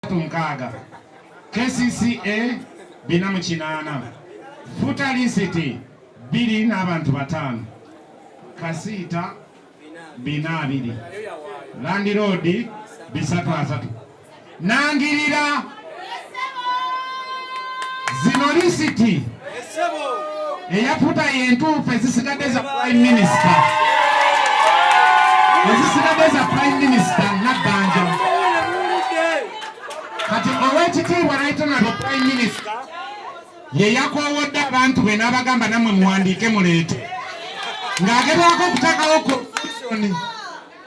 bisatu mukaaga KCCA bina mu kinaana futa lisiti bbiri n'abantu bataano kasiita bina abiri landiroodi bisatu asatu nangirira zino lisiti eyafuta yentuufu ezisigadde za prime minister ezisigadde za prime minister nabbanja kati owekitiibwa naitonado prime minister yeyakowodde abantu be n'abagamba namwe muwandiike muleete ng'agezaako okuteekawo confusion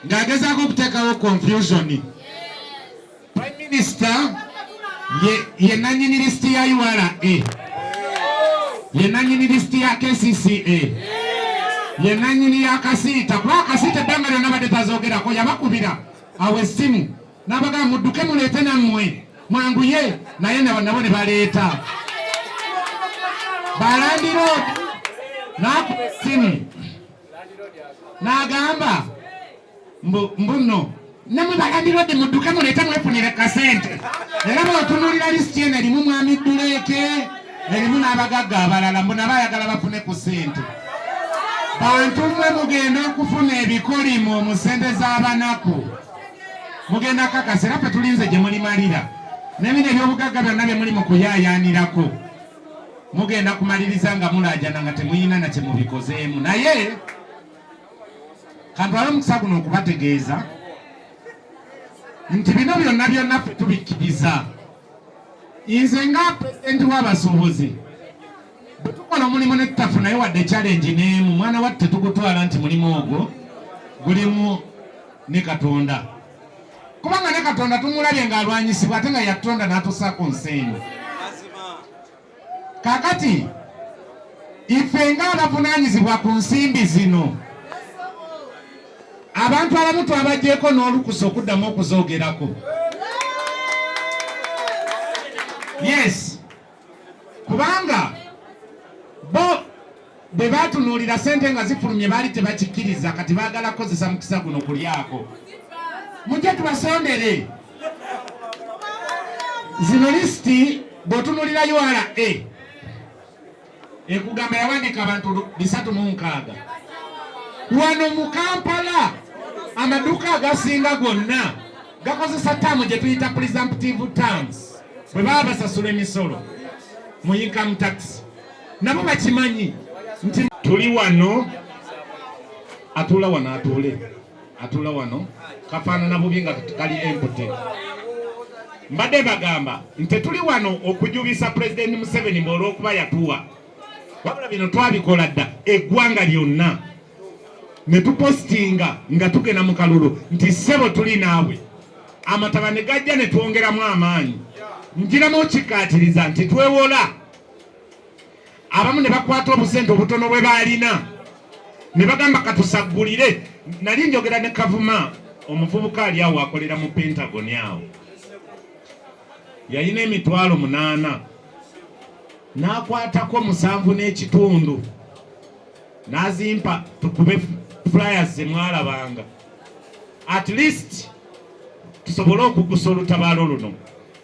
ng'agezaako okuteekawo confusioni Prime Minister ye ye nanyini list ya URA ye nanyini list ya KCCA ye nanyini ya kasiita kuba kasiita ebbanga lyonna badde tazogerako yabakubira awo essimu n'abagamba mudduke muleete nammwe mwanguye naye nabo nabo ne baleeta balandiroodi n'akuba essimu n'agamba mbu mbuno namwe balandirodi mudduke muleete mwefunire kasente era bwotunulira lisiti eno erimu mwami dduleeke erimu n'abagagga abalala mbu nabo ayagala bafune ku sente bantu mwe mugenda okufuna ebikolimo mu sente z'abanaku mugenda kakasa era fe tulinze gye mulimalira nebino ebyobugagga byonna bye muli mu kuyayaanirako mugenda kumaliriza nga mulaajana nga temuyina na kye mubikozeemu naye kantwala omukisa guno okubategeeza nti bino byonna byonna ffe tubikkiriza nze nga pulezidenti w'abasuubuzi bwe tukola omulimu ne tutafunayo wadde challenge n'emu mwana watu tetugutwala nti mulimu ogwo gulimu ne katonda kubanga ne katonda tumulabye ng'alwanyisibwa ate nga yatutonda n'atusaako nsi eno kakati ife nga abavunaanyizibwa ku nsimbi zino abantu abamu twabagyeko n'olukusa okuddamu okuzoogerako yes kubanga bo Bwe baatunuulira ssente nga zifulumye baali tebakikkiriza, kati baagala kukozesa mukisa guno kulyako. Mujje tubasondere zino lisiti bw'otunuulira URA ekugamba yawandiika abantu bisatu mu nkaaga wano mu Kampala amaduuka agasinga gonna gakozesa taamu gye tuyita presumptive terms bwe baba basasula emisolo mu income tax nabo bakimanyi nti tuli wano atuula wano atuule atuula wano kafaanana bubi nga kali empute mbadde bagamba nti tuli wano okujubisa pulezidenti museveni mbe olwokuba yatuwa wabula bino twabikola dda eggwanga lyonna ne tupositinga nga tugenda mu kalulu nti ssebo tuli naawe amataba ne gajja ne twongeramu amaanyi njiramu okikkaatiriza nti twewola abamu ne bakwata obusente obutono bwe baalina ne bagamba katusaggulire nali njogera ne kavuma omuvubuka ali awo akolera mu pentagoni awo yalina emitwalo munaana n'akwatako musanvu n'ekitundu n'azimpa tukube flyers zemwalabanga at least tusobole okugusa olutabaalo luno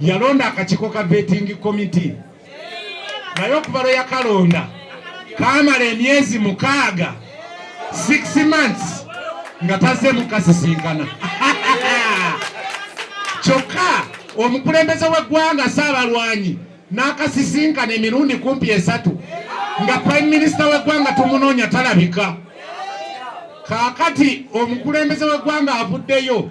yalonda akakiiko ka vetting committee naye okuva lwe yakalonda kamala emyezi mukaaga six months nga tazze mukasisinkana kyokka omukulembeze w'eggwanga saabalwanyi n'akasisinkana emirundi kumpi esatu nga prime minisita w'eggwanga tumunoonya talabika kaakati omukulembeze w'eggwanga avuddeyo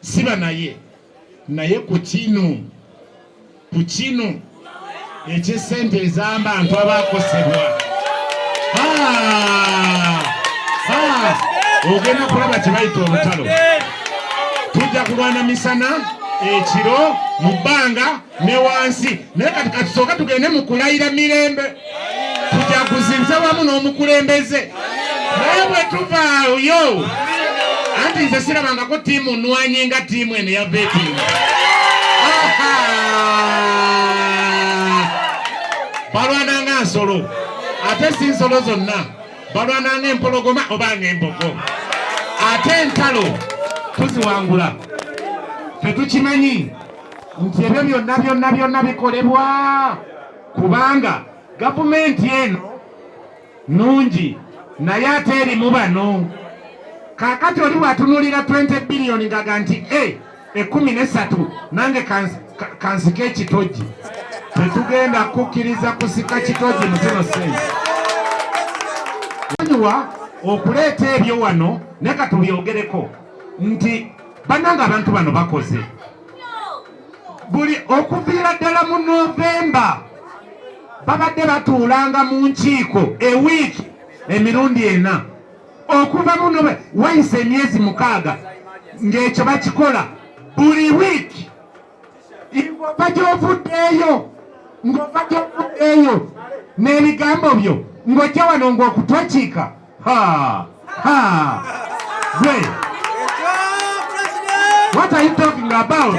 siba naye naye ku kino ku kino eky'essente ezamba ntu abakosebwa ah! ah! ogenda kulaba kyebayita olutalo tujja kulwana misana ekiro mu bbanga ne wansi naye kati katusooka tugende mu kulayira mirembe tujaguziza wamu n'omukulembeze naye bwe tuvaayo anti nze sirabangako tiimu nwanyi nga tiimu eno ya veting balwana nga nsolo ate si nsolo zonna balwana nga empologoma oba nga embogo ate entalo tuziwangula tetukimanyi nti ebyo byonna byonna byonna bikolebwa kubanga gavumenti eno nungi naye ate erimu bano kakati oli bwatunulira 20 biliyoni ngaga nti e ekumi nesatu nange kansika ekitoji tetugenda kukkiriza kusika kitoji muzino sensi anyiwa okuleeta ebyo wano nekatubyogereko nti bananga abantu bano bakoze buli okuviira ddala mu novemba babadde batuulanga mu nkiiko ewiiki emirundi ena okuva muno wayisa emyezi mukaaga ng'ekyo bakikola buli wiiki ng'ova gyovuddeeyo ng'ova gyovuddeeyo n'ebigambo byo ng'ojja wano ng'okutokiika Ha! Ha! Gwe! What are you talking about?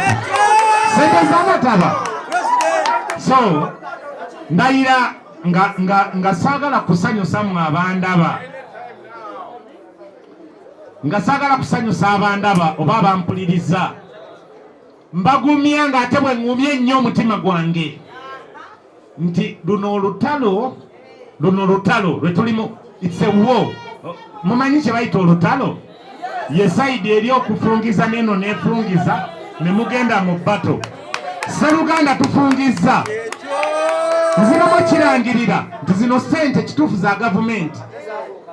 Sente z'amataba. So, ndayira nga, nga, nga saagala kusanyusa mwe abandaba nga saagala kusanyusa abandaba oba abampuliriza mbagumya ng'ate bwe ŋŋumya ennyo omutima gwange nti luno olutalo luno olutalo lwe tulimu itsewo mumanyi kye bayita olutalo ye sayidi eri okufungiza neeno neefungiza ne mugenda mu bato sseruganda tufungizza nziramu kirangirira nti zino ssente kituufu za gavumenti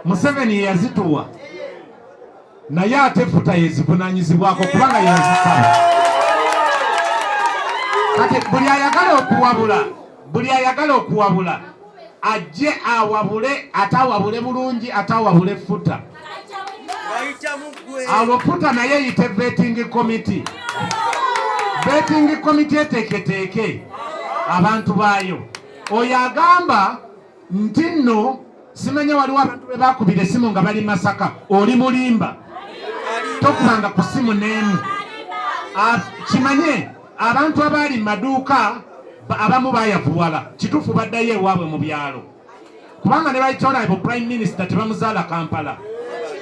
museveni yeyazituwa naye ate futa yezivunanyizibwako kubanga yazisaba kati buli ayagala okuwabula buli ayagala okuwabula ajje awabule ate awabule bulungi ate awabule futa awo futa naye yite vetting committee vetting committee eteeketeeke abantu baayo oyo agamba nti nno simanya waliwo abantu be bakubira essimu nga bali masaka oli mulimba tokubanga ku ssimu n'emu kimanye abantu abaali mu maduuka abamu bayavuwala kituufu baddayo ewaabwe mu byalo kubanga ne baitonaebo prime minister tebamuzaala kampala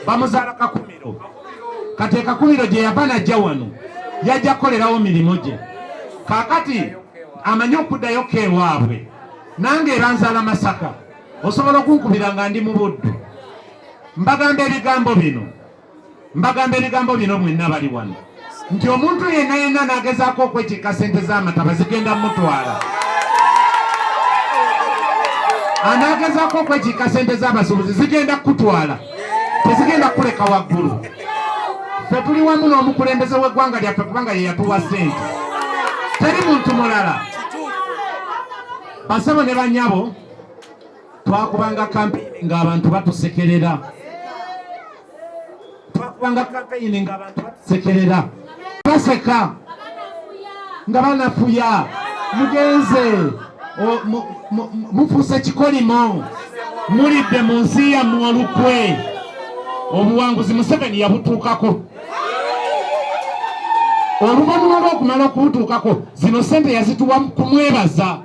bamuzaala kakumiro kati ekakumiro gye yava najja wano yajja kukolerawo mirimu gye kakati amanyi okuddayo keewaabwe nange era nzala Masaka, osobola okunkubira nga ndi mu Buddu. Mbagamba ebigambo bino, mbagamba ebigambo bino mwenna bali wano nti omuntu yenna yenna nagezaako okwekiika sente z'amataba zigenda mutwala anagezaako okwekiika sente z'abasuubuzi zigenda kukutwala tezigenda kukuleka waggulu ffe tuli wamu n'omukulembeze w'eggwanga lyaffe kubanga ye yatuwa sente teri muntu mulala Basebo ne banyabo twakubanga kampeyini ng'abantu batusekerera twakubanga kampeyini ng'abantu batusekerera baseka nga banafuya mugenze mufuuse kikolimo mulidde mu nsi yammwe olukwe obuwanguzi museveni yabutuukako oluvannyuma lw'okumala okumutuukako zino sente yazituwa kumwebaza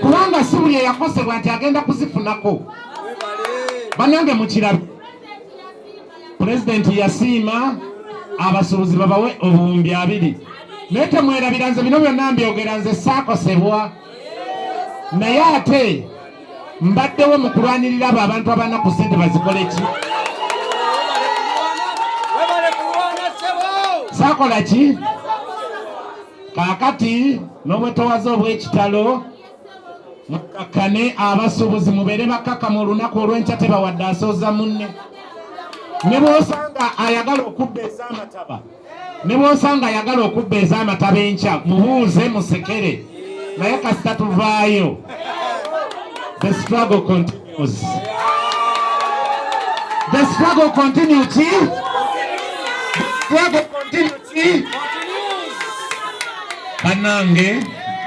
kubanga si buli eyakosebwa nti agenda kuzifunako banange mukirabe pulezidenti yasiima abasuubuzi babawe obuwumbi abiri naye temwerabira nze bino byonna mbyogera nze saakosebwa naye ate mbaddewo mu kulwanirira abo abantu abanaku sente bazikole ki sakola ki kakati n'obwetowaze obw'ekitalo mukakkane abasuubuzi mubeere bakkakama olunaku olw'enkya tebawadde asooza munne ne bw'osanga ayagala okubba ez'amataba ne bw'osanga ayagala okubba ez'amataba enkya mubuuze musekere naye kasita tuvaayo the struggle continues the struggle continue ki struggle continue ki banange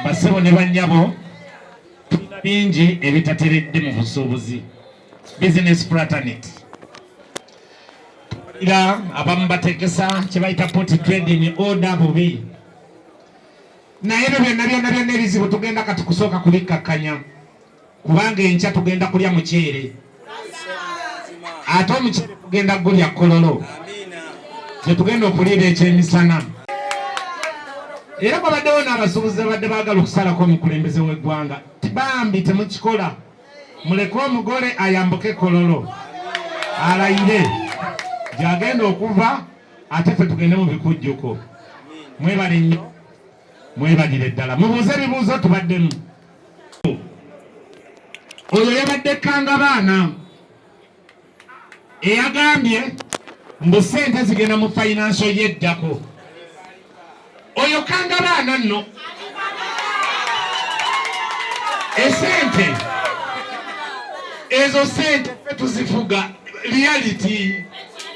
basebo ne banyabo tulina bingi ebitateredde mu busuubuzi business fraternity era abamu bategesa kyebayita poti trading order bubi naye ebyo byonna byonna byonna ebizibu tugenda kati kusooka kubikkakkanya kubanga enkya tugenda kulya muceere ate omuceere tugenda gulya kololo gyetugenda okuliira ekyemisana era kwabaddewo n'abasuubuzi abadde baagala okusalako omukulembeze w'eggwanga bambi temukikola muleke omugole ayambuke kololo alayire gyagenda okuva ate fe tugende mu bikujjuko mwebale nnyo mwebalire ddala mubuuze ebibuuzo tubaddemu oyo yabadde kanga baana eyagambye mbu sente zigenda mu fayinanso yeddako oyo kanga baana nno esente ezo sente fe tuzifuga reality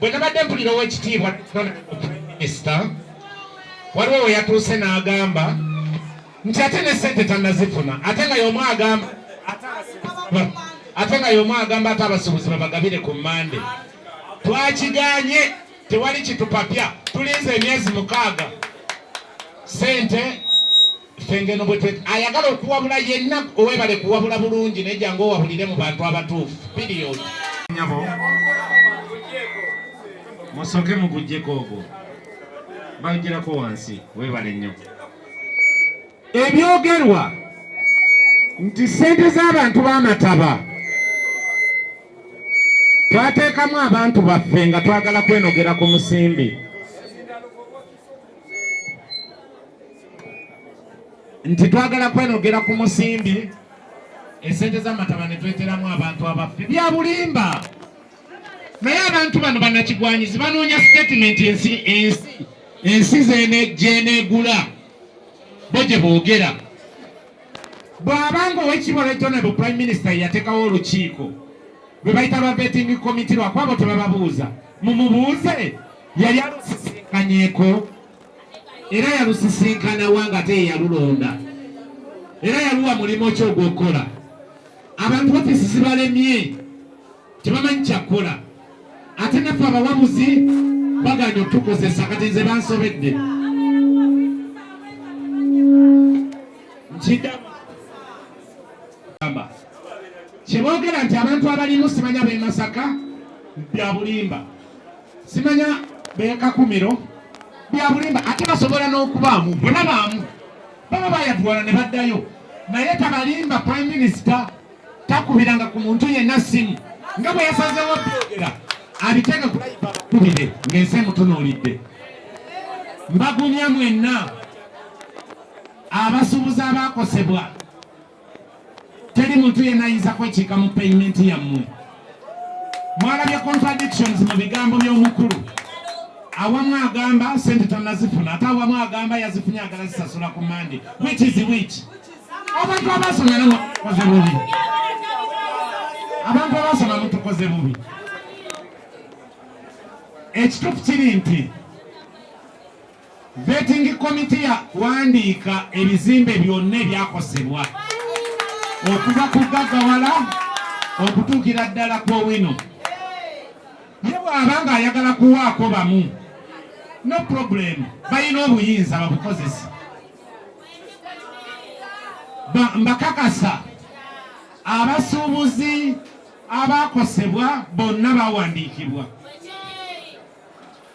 bwe nabadde mpulira ow'ekitiibwa minisita waliwo we yatuuse n'agamba nti ate ne sente tannazifuna ate nga y'omu agamba ate nga y'omu agamba ate abasuubuzi babagabire ku mmande twakiganye tewali kitupapya tulinze emyezi mukaaga sente fengeno bwetwe ayagala okuwabula yenna owebale kuwabula bulungi naye jangu owabulire mu bantu abatuufu period nyabo musoke mugujjeko ogwo bagirako wansi webale nnyo ebyogerwa nti sente z'abantu b'amataba twateekamu abantu baffe nga twagala kwenogera ku musimbi nti twagala kwenogera ku musimbi esente zamataba netweteramu abantu abaffe byabulimba naye abantu bano banakigwanyizi banoonya sitatimenti ensi ensi ensi zenejenegula bo gye boogera bwabanga owekitiibwa regionable prime minister yatekawo olukiiko lwe bayita lwa vetting committee lwakwabo tebababuuza mumubuuze yali alusisinkanyeko era yalusisinkanawa nga ate yeyalulonda era yaluwa mulimu ki ogwokukola abantu ofisi zibalemye tebamanyi kyakukola ate naffe abawabuzi baganya okutukozesa kati nze bansobedde nkidamu kyebogera nti abantu abalimu simanya bemasaka byabulimba simanya bekakumiro byabulimba ate basobola n'okubaamu bona baamu baba bayatwala ne baddayo naye tabalimba prime minister takubiranga ku muntu yenna simu nga bwe yasazewo byogera abiteeka kubire ng'ensi emutunuulidde mbagumya mwenna abasuubuzi abaakosebwa teri muntu yenna ayinza kwekiika mu payimenti yammwe mwalabye contradictions mu bigambo by'omukulu awamu agamba sente tanazifuna ate awamu agamba yazifunye agala zisasula ku mande which is which abantu abasoma namutukoze bubi abantu abasoma mutukoze bubi ekituufu kiri nti Vetting committee yakuwandiika ebizimbe byonna ebyakosebwa okuva ku gagawala okutuukira ddala ku owino. Ye bw'aba ng'ayagala kuwaako bamu, no problem, balina obuyinza babukozesa. Mbakakasa abasuubuzi abaakosebwa bonna bawandiikibwa.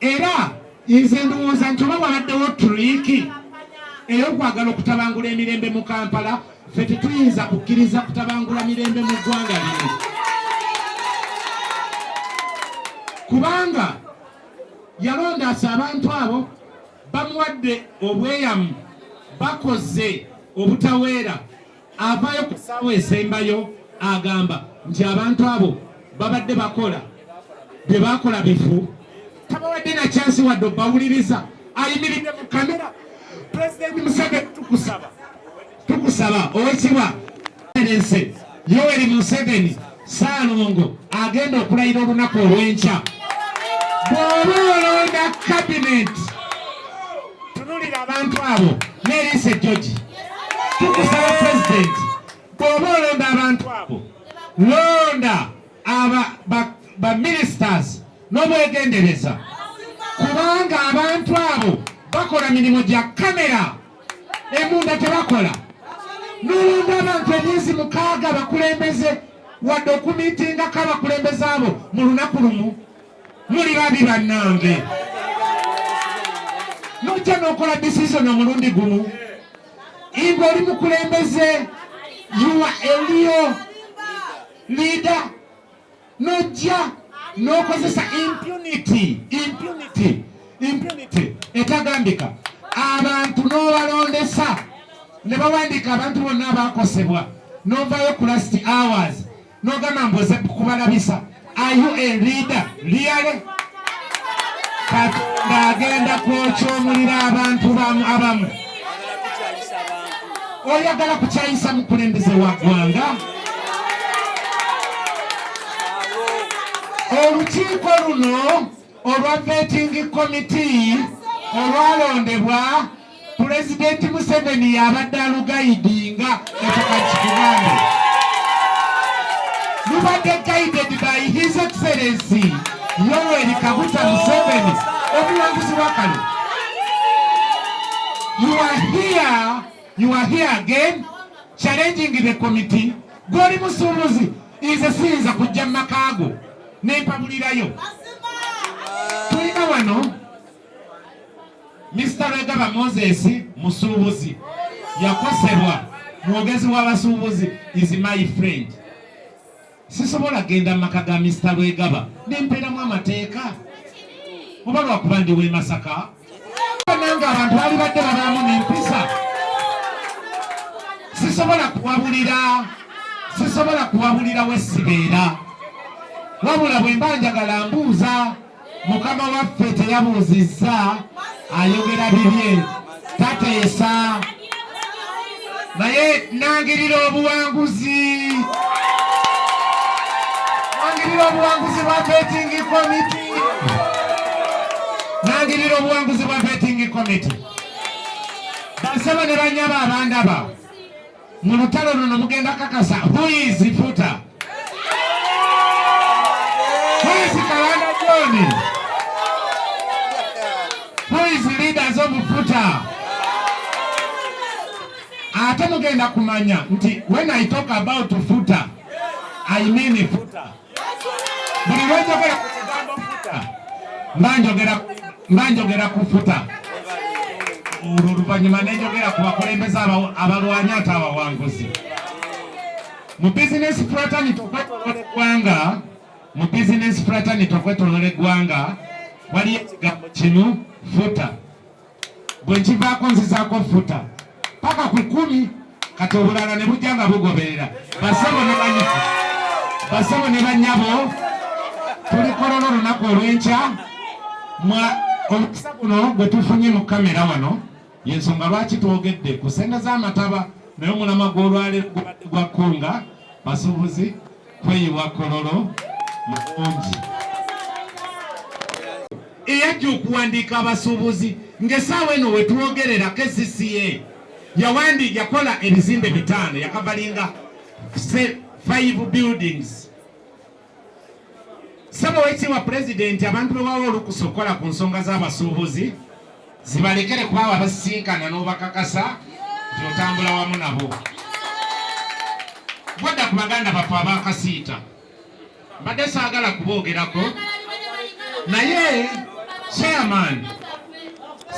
Era nze ndowooza nti oba wabaddewo turiiki ey'okwagala okutabangula emirembe mu Kampala, ffe tetuyinza kukkiriza kutabangula mirembe mu ggwanga lino kubanga yalondaasa abantu abo bamuwadde obweyamu bakoze obutaweera Avaayo ku ssaawa esembayo agamba nti abantu abo babadde bakola bye baakola bifu tabawadde na kyansi wadde obawuliriza ayimiridde mu kamera pulezidenti museveni tukusaba tukusaba owekibwa ense yoweri museveni Ssaalongo agenda okulayira olunaku olw'enkya. Bw'oba olonda kabineeti, tunulira abantu abo n'eriisa ejjogi. Tukusaba pulezidenti, bw'oba olonda abantu abo, londa baminisitaazi n'obwegendereza, kubanga abantu abo bakola mirimu gya kamera embunda tebakola nolonda abantu emyezi mukaaga bakulembeze wadde okumitingako abakulembeze abo mu lunaku lumu muli babi bannange nojja nokola decision omulundi gumu inga oli mukulembeze yuwa eliyo lida nojja nokozesa impunity impunity impunity etagambika abantu nobalondesa ne bawandiika abantu bonna abakosebwa novayo ku last hours nogamba mboze kubalabisa are you a leader really katonda agenda kwokyomulira abantu bamu abamu oyagala kukyayisa mukulembeze wa ggwanga olukiiko luno olwa vetting committee olwalondebwa pulezidenti museveni yabadde alugayidinga etukakikuganda lubadde guided by his excellency yoweri kaguta museveni omuwanguzi wakano You are here, you are here again challenging the committee. Goli Musumuzi nze siyinza kujja mu maka go ne mpabulirayo. Tulina wano Mr. Regaba Moses Musuubuzi yakosebwa mwogezi w'abasuubuzi is my friend. sisobola genda mu maka ga Mister Lwegaba ne mpeeramu amateeka oba lwakuba ndi w'e Masaka nange abantu bali badde babaamu n'empisa sisobola kuwabulira sisobola kuwabulira wesibeera wabula bwe mba njagala mbuuza mukama waffe teyabuuzizza ayogera bibye tateesa naye nangirira obuwanguzi nangirira obuwanguzi bwa betingi komiti nangirira obuwanguzi bwa betingi komiti basaba ne banyaba abandaba mu lutalo luno mugenda kakasa huizi futa huizi kalanda joni huizi leaders of futa ate mugenda kumanya nti when i talk about futa i mean futa buli lwenjogera ku kigambo futa mba njogera ku futa olwo oluvannyuma nenjogera ku bakulembeze abalwanya ate abawanguzi mu bizinesi fraternity okwetolola eggwanga mu bizinesi fraternity okwetolola eggwanga waliyo ekigambo kimu futa bwe nkivaako nzizaako ffuta paka ku kkumi kati obulala ne bujja nga bugoberera basebo ne banyabo basebo ne banyabo tulikolona olunaku olw'enkya mwa omukisa guno gwe tufunye mu kamera wano yensonga lwaki twogedde ku sente z'amataba naye omulama gw'olwaleero gubadde gwa kkunga basuubuzi kweyiwa kololo mukungi eyajja okuwandiika abasuubuzi ng'esaawa eno wetwogerera kcca yawandi yakola ebizimbe bitaano yakavalinga five buildings saba wekitiibwa pulezidenti abantu bewawa olukusa okukola ku nsonga z'abasuubuzi zibalekere kubaawo abasisinkana n'obakakasa nti otambula wamu nabo bwadda ku baganda baffe abakasiita mbadde saagala kuboogerako naye chairman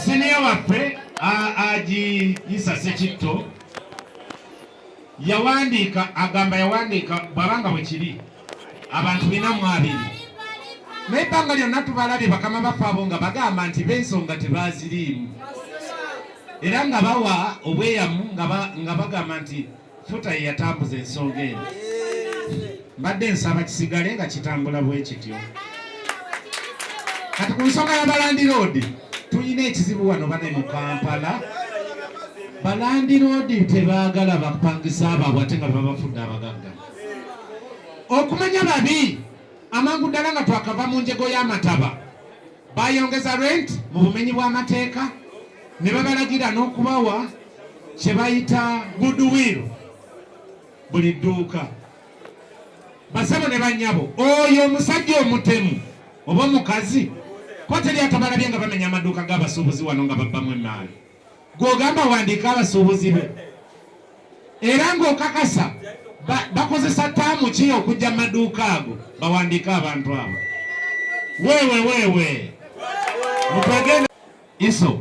siniya waffe agiyisa sekitto yawandiika agamba yawandiika bwabanga bwekiri abantu bina mu abiri naye ebbanga lyonna tubalabye bakama baffe abo nga bagamba nti bensonga tebaziriimu era nga bawa obweyamu nga bagamba nti futa yeyatambuza ensonga eno mbadde nsaba kisigale nga kitambula bwe kityo kati ku nsonga ya balandiroodi tulina ekizibu wano bane mu kampala balandiroodi tebaagala bapangisa abaabwe ate nga bebabafudde abagagga okumanya babi amangu ddala nga twakava mu njego y'amataba bayongeza rent mu bumenyi bw'amateeka ne babalagira n'okubawa kye bayita goodwill buli dduuka basabo ne banyabo oyo omusajja omutemu oba omukazi koteri atabalabye nga bamenya amaduuka g'abasuubuzi wano nga babbamu emaali gwogamba wandiika abasuubuzi be era ng'okakasa bakozesa taamu ki okujja mu maduuka ago bawandiika abantu abo wewe wewe mutwegenda iso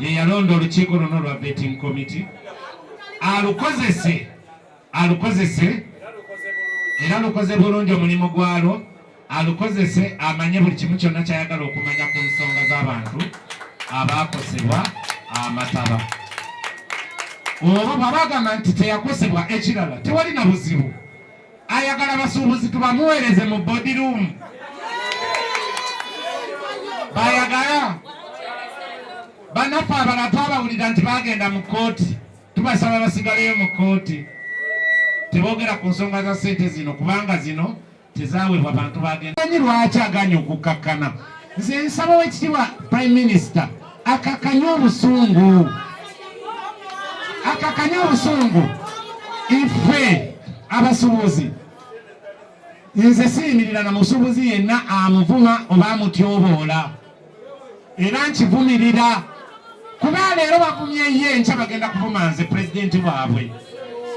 ye yalonda olukiiko luno lwa betting committee alukozese alukozese era lukoze bulungi omulimu gwalwo alukozese amanye buli kimu kyonna kyayagala okumanya ku nsonga z'abantu abaakosebwa amataba oba bwabagamba nti teyakosebwa ekirala tewali na buzibu ayagala basuubuzi tubamuweereze mu body room bayagala banaffe abala twabawulira nti bagenda mu kooti tubasaba basigaleyo mu kooti tebogera ku nsonga za sente zino kubanga zino tezaweebwa bantu bagendanyi lwaki aganya okukkakkana nze nsaba wekitibwa prime minister akakanye obusungu akakanye obusungu ife abasubuzi nze siyimirira na musubuzi yenna amuvuma oba amutyoboola era nkivumirira kuba leero bavumye ye nkya bagenda kuvuma nze pulezidenti waabwe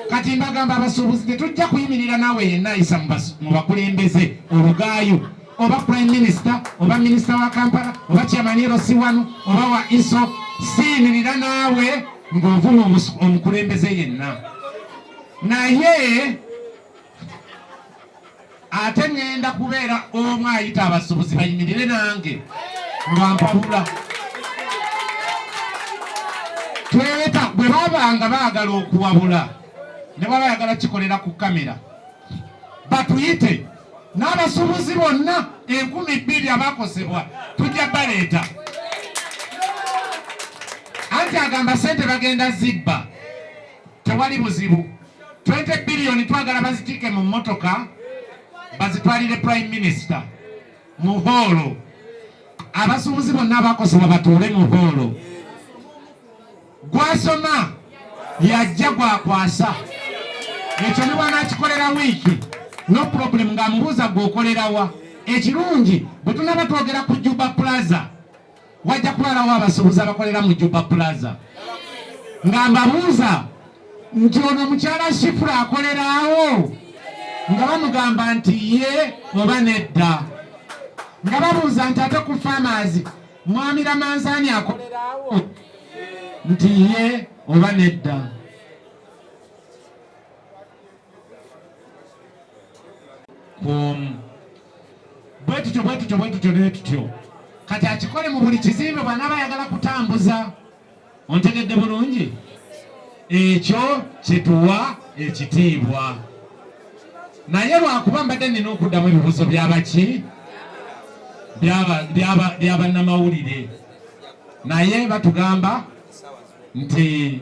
kati mbagamba abasuubuzi tetujja kuyimirira naawe yenna ayisa mu bakulembeze olugaayo oba prime minister oba minister wa kampala oba chairman erosi wanu oba wa iso siimirira naawe ng'ovuma omukulembeze yenna naye ate ŋenda kubeera omu ayita abasubuzi bayimirire nange lwampabula tweta bwe babanga baagala okuwabula ne baba yagala kikolera ku kamera batuyite n'abasuubuzi bonna enkumi bbiri abakosebwa tujja baleeta anti agamba sente bagenda zibba tewali buzibu 20 biliyoni twagala bazitiike mu mmotoka bazitwalire prime minister mu hoolo abasuubuzi bonna abakosebwa batuule mu hoolo Gwasoma yajja gwakwasa ekyo ne bwanakikolera wiiki no problem ng'amubuuza gwokolerawa ekirungi bwe tunaba twogera ku juba plaza wajja kulalawo abasuubuzi abakolera mu juba plaza nga mbabuuza nti ono mukyala shifura akoleraawo nga bamugamba nti ye oba nedda nga babuuza nti ate ku famazi Mwami Lamanzaani akoleraawo nti ye oba nedda. Kwomu bwe tutyo bwe tutyo bwe tutyo ne tutyo kati akikole mu buli kizimbe bw'anaaba ayagala kutambuza. ontegedde bulungi ekyo kituwa ekitiibwa naye lwakuba mbadde nina okuddamu ebibuzo byabaki byabannamawulire naye batugamba nti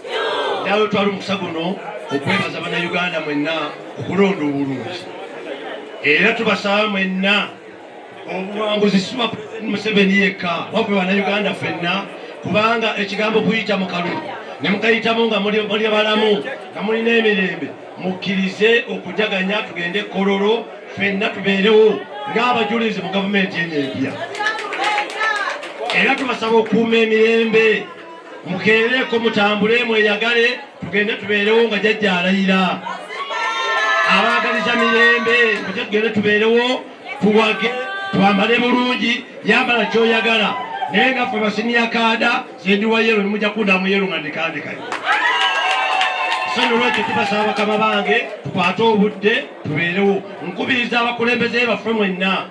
nawe twala omukisa guno okwebaza bannayuganda mwenna okulonda obulungi era tubasaba mwenna obuwanguzi siwa museveni yekka wabwe bannayuganda fenna kubanga ekigambo kuyita mu kalu ne mukayitamu nga muli balamu nga mulina emirembe mukkirize okujaganya tugende kololo fenna tubeerewo ng'abajulizi mu gavumenti eno empya era tubasaba okuuma emirembe mukeereko mutambule mweyagale tugende tubeerewo nga jajja alayira abaagaliza mirembe muje tugende tubeerewo tuwage twambale bulungi yambala kyoyagala naye nga fe basiniya kaada sendiwa yero nimuja kundamu yero nga ndikandikayo sonolwekyo tubasaba bakama bange tukwate obudde tubeerewo nkubiriza abakulembeze baffe mwenna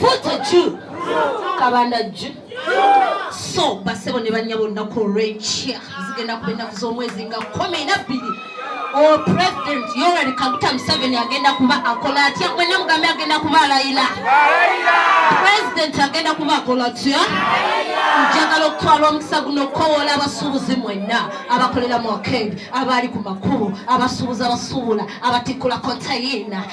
futa ju kabanda ju so basebo ne banyabo olunaku olwenkya zigenda kuba ennaku z'omwezi nga kumi nabbiri o president yorari kaguta museveni agenda kuba akola atya mwena mugambe agenda kuba alayira president agenda kuba akola atya njagala okutwala omukisa guno okukowola abasuubuzi mwenna abakolera mu akendi abaali ku makubo abasuubuzi abasuubula abatikkula kontayina